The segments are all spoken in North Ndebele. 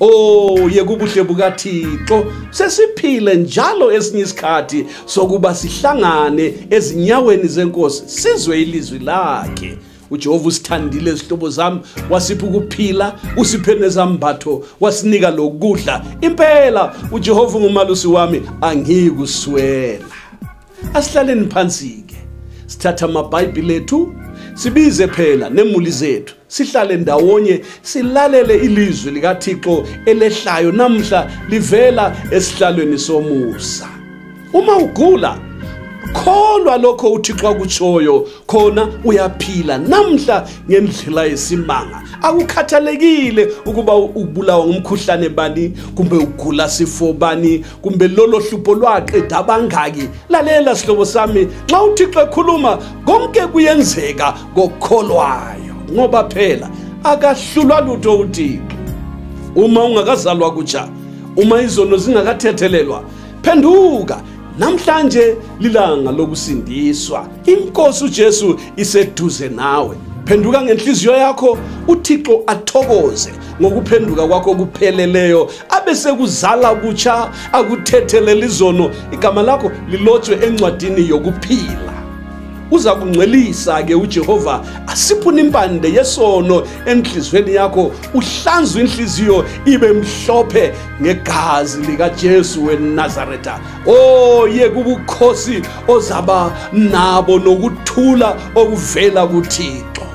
Oh yeka ubuhle bukaThixo sesiphile njalo esinye isikhathi sokuba sihlangane ezinyaweni zenkosi sizwe ilizwi lakhe uJehova usithandile izihlobo zami wasipha ukuphila usiphe nezambatho wasinika lokudla impela uJehova ngumalusi wami angiyikuswela asihlaleni phansi-ke sithatha amabhayibhile ethu sibize phela nemuli zethu sihlale ndawonye silalele ilizwi likathixo elehlayo namhla livela esihlalweni somusa uma ugula kholwa lokho uthixo akutshoyo khona uyaphila namhla ngendlela yesimanga akukhathalekile ukuba ubulawa ngumkhuhlane bani kumbe ugula sifo bani kumbe lolo hlupho lwaqeda abangaki lalela sihlobo sami nxa uthixo ekhuluma konke kuyenzeka kokholwayo ngoba phela akahlulwa lutho uthixo uma ungakazalwa kutsha uma izono zingakathethelelwa phenduka namhlanje lilanga lokusindiswa inkosi ujesu iseduze nawe phenduka ngenhliziyo yakho uthixo athokoze ngokuphenduka kwakho okupheleleyo abe sekuzala kutsha akuthethelele izono igama lakho lilotshwe encwadini yokuphila uza kungcwelisa ke uJehova asiphuna impande yesono enhlizweni yakho uhlanzwe inhliziyo ibe mhlophe ngegazi likaJesu weNazaretha oye oh, kubukhosi ozaba nabo nokuthula okuvela kuThixo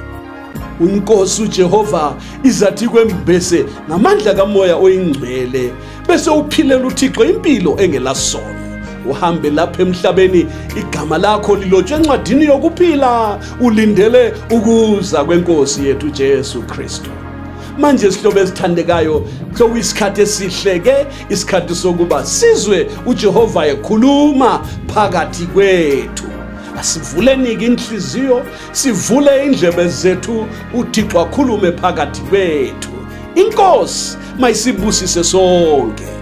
uNkosi uJehova izathi kwembese ngamandla kamoya oyingcwele bese uphilela uThixo impilo engelasono uhambe lapha emhlabeni igama lakho lilotshwe encwadini yokuphila ulindele ukuza kwenkosi yethu Jesu Kristu manje izihlobo ezithandekayo sokuyisikhathi esihleke isikhathi sokuba sizwe ujehova ekhuluma phakathi kwethu asivulenike inhliziyo sivule indlebe zethu uthixo akhulume phakathi kwethu inkosi mayisibusise sonke